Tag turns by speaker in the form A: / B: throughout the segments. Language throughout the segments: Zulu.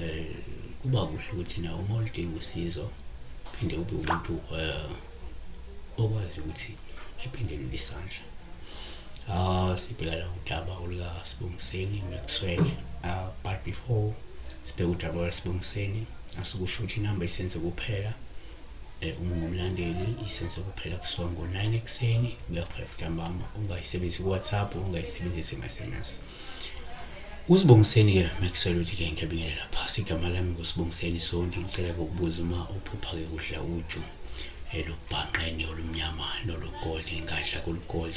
A: eh kuba kuhle ukuthi na uma ulidinga usizo phinde ube umuntu eh okwazi ukuthi ephendelele isandla ah sibhekana udaba olika sibongiseni nekuswele ah but before sibheka udaba lwasibongiseni asikusho ukuthi inamba isenze kuphela eh, uma ngumlandeli isense kuphela kusuka ngo-9 ekuseni kuya ku-5 ntambama ungayisebenzisi ku-whatsapp ungayisebenzisi ma-sms Usibongiseni ke Maxwell uthi ke ngiyabingelela phasi igama lami ngusibongiseni so ngicela ukubuza uma uphupha ke kudla uju elubhanqeni eh, olumnyama nolugold ngadla kolugold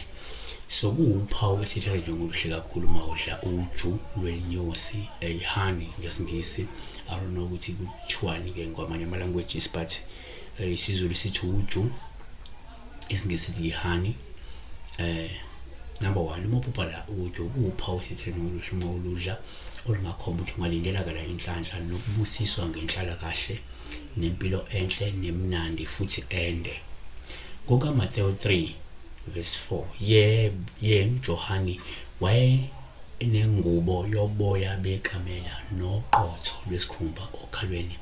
A: so kuwuphawu esithanda nje ngoluhle kakhulu uma udla uju lwenyosi eyihani ngesingisi i don't know ukuthi kuthiwani ke ngokwamanye ama-languages but eh, isizulu sithi uju isingisi sithi yihani eh number 1 uma uphupha la uju upha usitheni olusho uma uludla olungakhomba ukuthi ungalindela kala inhlanhla nokubusiswa ngenhlala kahle nempilo enhle nemnandi futhi ende ngokaMathewu 3 verse 4 ye ye uJohane waye inengubo yoboya bekamela noqotho lwesikhumba okhalweni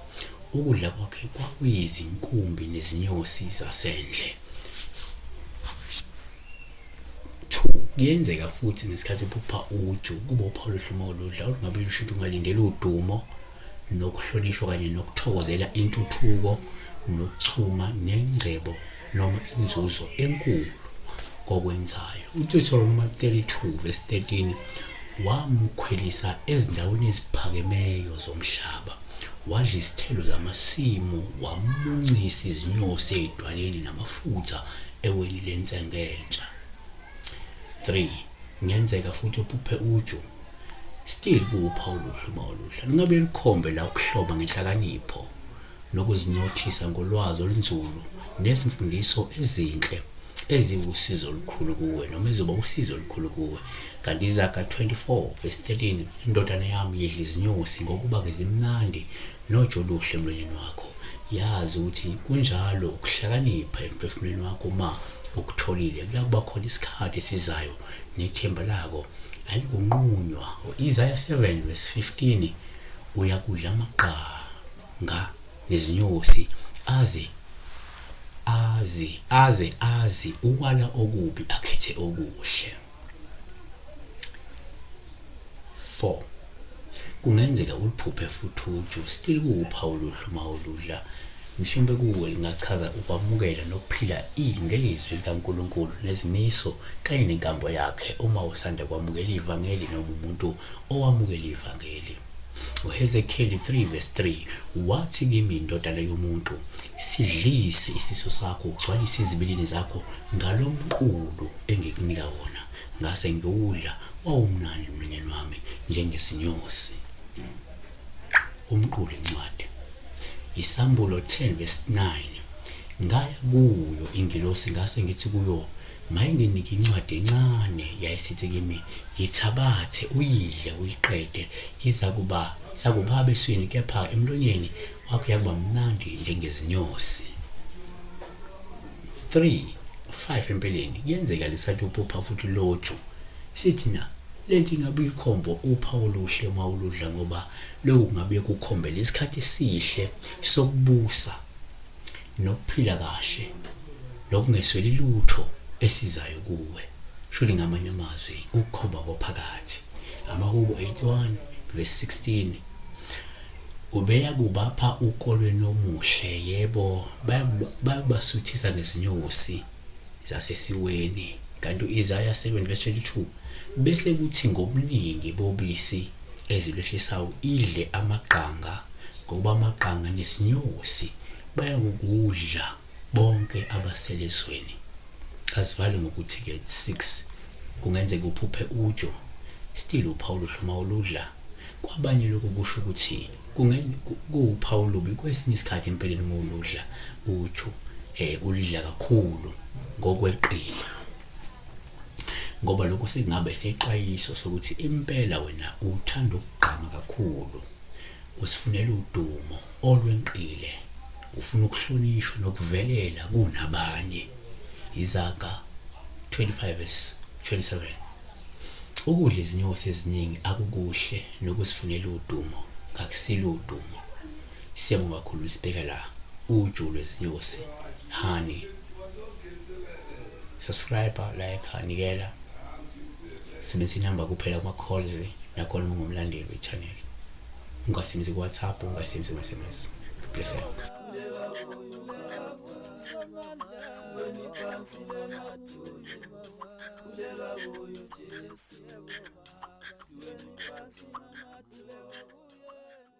A: Ukudla kwakhe kwakuyizinkumbi nezinyosi zasendle. 2 kuyenzeka futhi ngesikhathi uphupha uju kube uphawu lohluma oludla olungabe lusho ukuthi ungalindela udumo nokuhlonishwa kanye nokuthokozela intuthuko nokuchuma nengcebo noma inzuzo enkulu kokwenzayo. UDeuteronomi 32 verse 13 wamkhwelisa ezindaweni eziphakemeyo zomhlaba wadla izithelo zamasimu wamuncisa izinyosi ey'dwaleni namafutha eweni lensengentsha 3 ngenzeka futhi uphuphe uju still kuwuphawu oluhlu mawoluhla lungabe lukhombe la ukuhloba ngenhlakanipho nokuzinothisa ngolwazi olunzulu nezimfundiso ezinhle eziwusizo olukhulu kuwe noma ezoba usizo olukhulu kuwe kanti izaga 24 verse 13 indodana yami yedla izinyosi ngokuba ke zimnandi nojo oluhle emlonyeni wakho yazi ukuthi kunjalo ukuhlakanipha emphefumulweni wakho uma ukutholile kuyakuba khona isikhathi esizayo nethemba lako alikunqunywa isaya 7 verse 15 uyakudla amaqala nga nezinyosi aze azi aze azi ukwala okubi akhethe okuhle 4 kungenzeka uliphuphe futhi uju still kuwuphawu luhlu uma uludla mhlawumbe kuwe lingachaza ukwamukela nokuphila ingezwi likaNkulunkulu nezimiso kanye nenkambo yakhe uma usanda kwamukela ivangeli noma umuntu owamukela ivangeli UHezekeli 3 verse 3 wathi kimi, ndodana yomuntu, sidlise isiso sakho, ugcwalise izibilini zakho ngalo mqulu engikunika wona. Ngase ngiwudla, wawumnandi emlonyeni wami njengesinyosi. Umqulu incwadi. Isambulo 10 verse 9 ngaya kuyo ingilosi ngase ngithi kuyo Ngayinginika incwadi encane, yayisithi kimi, Yithabathe, uyidle, uyiqede, izakuba sakubaba eswini, kepha emlonyeni wakho yakuba mnandi njengezinyosi. 3 5 empeleni kuyenzeka lisathi uphupha futhi loju sithi na lento ingabe uyikhombo upha oluhle uma uludla ngoba lokhu kungabe kukhombela isikhathi esihle sokubusa nokuphila kahle nokungesweli lutho esizayo kuwe shuli ngamanye amazwi ukukhomba kophakathi amahubo 81 verse 16 ubeya kubapha ukolweni omuhle yebo bayakubasuthisa ngezinyosi zasesiweni kanti u-Isaya 7 verse 22 bese kuthi ngobuningi bobisi ezilwehlisayo idle amaqanga ngoba amaqanga nesinyosi bayakukudla bonke abasele ezweni kazivali ngokuthi ke 6 kungenzeka uphuphe ujo still uphawula uhluma oludla kwabanye lokhu kusho ukuthi Kuwuphawu olubi kwesinye isikhathi empeleni uma uludla uju um eh, ulidla kakhulu ngokweqile ngoba lokhu sekungabe sexwayiso sokuthi impela wena uthanda ukugqama kakhulu usifunela udumo olwenqile ufuna ukuhlonishwa nokuvelela kunabanye izaga 25 27 Ukudla izinyosi eziningi akukuhle nokusifunela udumo kakusilo udumo. Siyabonga kakhulu sibheka la uju lwezinyosi honey. Subscribe like nikela sebenzisa inamba kuphela kuma calls nakhona uma ungumlandeli we channel. Ungasebenzisa ku WhatsApp ungasebenzisa kuma SMS. Bless you. Kuleka kuyo Jesu, siwe mfazi mama kuleka kuyo.